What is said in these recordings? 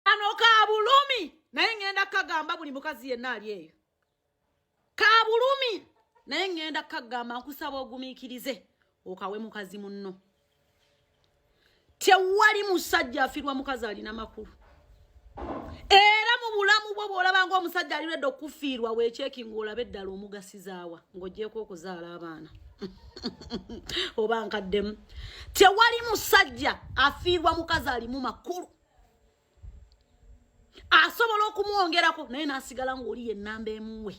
kano ka bulumi naye ŋŋenda kukagamba buli mukazi yenna ali eyo ka bulumi naye ŋŋenda kukagamba nkusaba ogumiikirize okawe mukazi munno tewali musajja afirwa mukazi alina makulu era mu bulamu bwo bw'olaba ngaomusajja alirwedde okufiirwa weekyeki ng'olabe eddala omugasizaawa ng'ogyeko okuzaala abaana oba nkaddemu tewali musajja afiirwa mukazi alimu makulu asobola okumwongerako naye n'asigala ng'oli yennamba emuwe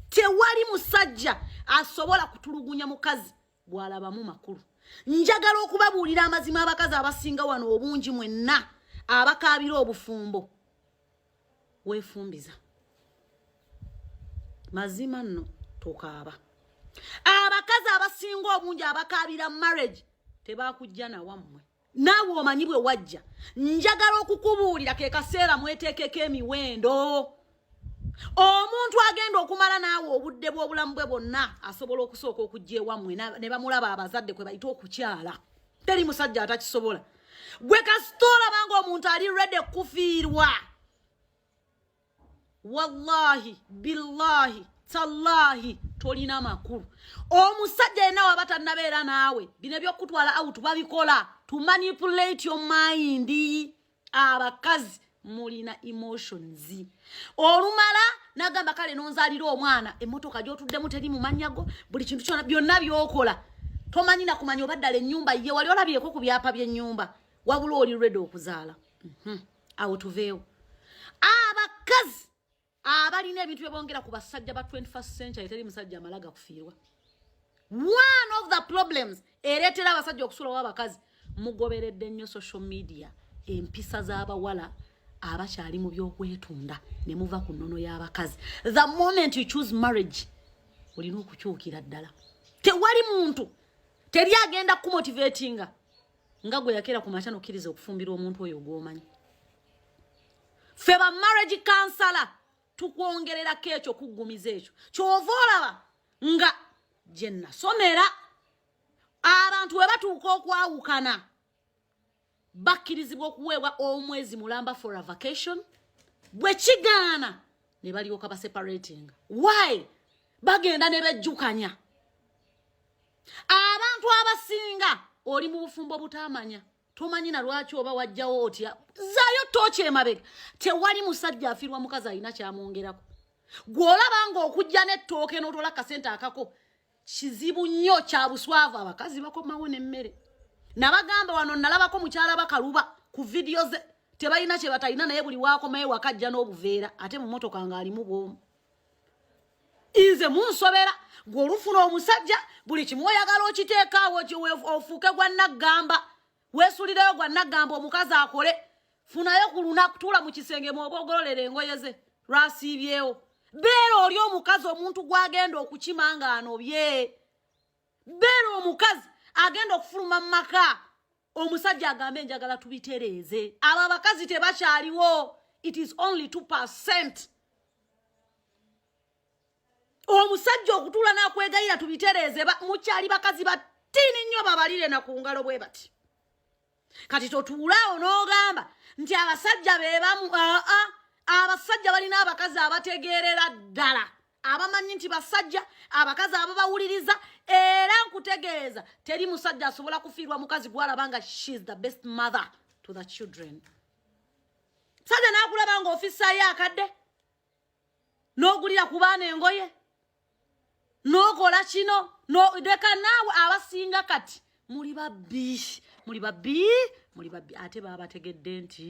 tewali musajja asobola kutulugunya mukazi bw'alabamu makulu njagala okubabuulira amazima abakazi abasinga wano obungi mwenna abakaabira obufumbo weefumbiza mazima nno tokaaba abakazi abasinga obungi abakaabira marriage tebakujja nawammwe naawe omanyi bwe wajja njagala okukubuulira ke kaseera mweteekeko emiwendo omuntu agenda okumala naawe obudde bw'obulamu bwe bwonna asobola okusooka okujja ewammwe ne bamulaba abazadde kwe bayita okukyala teri musajja atakisobola gwe kasita olabanga omuntu ali rede kufiirwa wallahi billahi tallahi tolina makulu omusajja yena waba tanabeera naawe bino ebyokutwala out babikola to manipulate your mind abakazi mulina emotions olumala nagamba kale nonzalira omwana emotoka gyotuddemu teri mumanyago buli kintu kyona byonna byokola tomanyi nakumanya oba ddala enyumba ye wali olabyeko ku byapa byenyumba wabula oli redi okuzaala mm -hmm. awo tuveewo abakazi abalina ebintu byebongera ku basajja ba 21st century teri musajja amala gakufiirwa one of the problems ereetera abasajja okusulawo abakazi mugoberedde nnyo social media empisa z'abawala abakyali mu byokwetunda ne muva ku nnono y'abakazi the moment you choose marriage olina okukyukira ddala tewali muntu teri agenda kumotivatinga nga gwe yakera ku makya nokkiriza okufumbirwa omuntu oyo ogwomanyi ffe ba marriage kansala tukwongererako ekyo kuggumiza ekyo kyova olaba nga gye nasomera abantu we batuuka okwawukana bakkirizibwa okuweebwa omwezi mulamba for a vacation bwe kigaana ne balyoka baseparatinga why bagenda ne bejjukanya abantu abasinga oli mu bufumbo butamanya tomanyi na lwaki oba wajjawo otya zayo toki emabega tewali musajja afirwa mukazi alina kyamwongerako gwolaba nga okujja nettooke notola kasente akako kizibu nnyo kyabuswavu abakazi bakomawo nemmere nabagamba wano nalabako mukyala bakaluba ku vidiyo ze tebalina kyebatalina naye buli wakomaye wakajja n'obuveera ate mumotoka ngaalimu bwomu inze munsobera gwe olufuna omusajja buli kimu oyagala okiteekaawo ofuuke gwa naggamba weesulireyo gwa naggamba omukazi akole funayo ku lunaku tuula mu kisenge mwoba ogololera engoye ze lwasiibyewo beera oli omukazi omuntu gwagenda okukima nga anobye beera omukazi agenda okufuluma mu maka omusajja agambe njagala tubitereeze abo abakazi tebakyaliwo it is only two percent omusajja okutuula nakwegayira tubitereeze mukyali bakazi batini nnyo babalire na ku ngalo bwe bati kati totuulaawo n'ogamba nti abasajja bebamu aa abasajja balina abakazi abategeerera ddala abamanyi nti basajja abakazi ababawuliriza era nkutegeeza teri musajja asobola kufiirwa mukazi gwalaba nga shes the best mother to the children musajja nakulaba nga ofisayo akadde n'ogulira ku baana engoye n'okola kino leka naawe abasinga kati muli babbi muli babbi muli babbi ate baabategedde nti